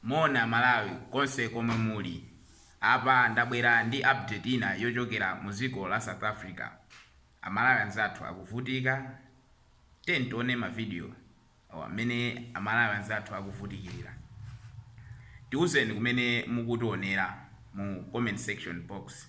Moni amalawi konse komwe muli. Apa ndabwera ndi update ina yochokera mu dziko la South Africa. Amalawi anzathu akuvutika. Tiyeni tione ma video awa mmene amalawi anzathu akuvutikilira. Tiuzeni kumene mukutionera mu comment section box.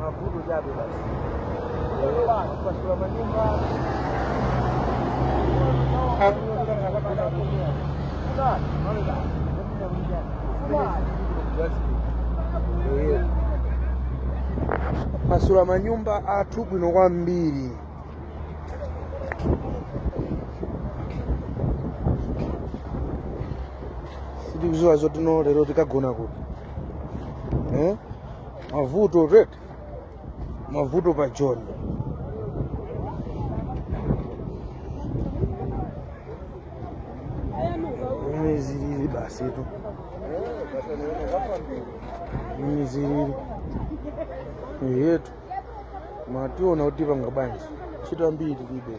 mavuto chabe basi kupasula manyumba pasula manyumba athu bwino kwambiri sitikuziwa zotino lero tikagona kuti eh? mavuto eti mavuto pa joni ndi mmene zilili basi tu mmene zilili yetu mationa kuti tipanga bwanji chita mbiri libe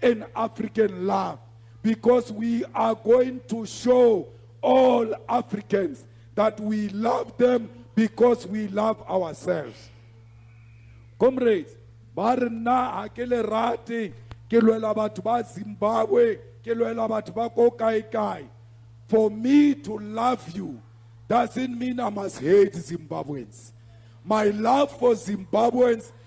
and African love because we are going to show all Africans that we love them because we love ourselves. Comrades, ba re nna ha ke le rate ke lwela batho ba Zimbabwe ke lwela batho ba ko kae kae for me to love you doesn't mean I must hate Zimbabweans my love for Zimbabweans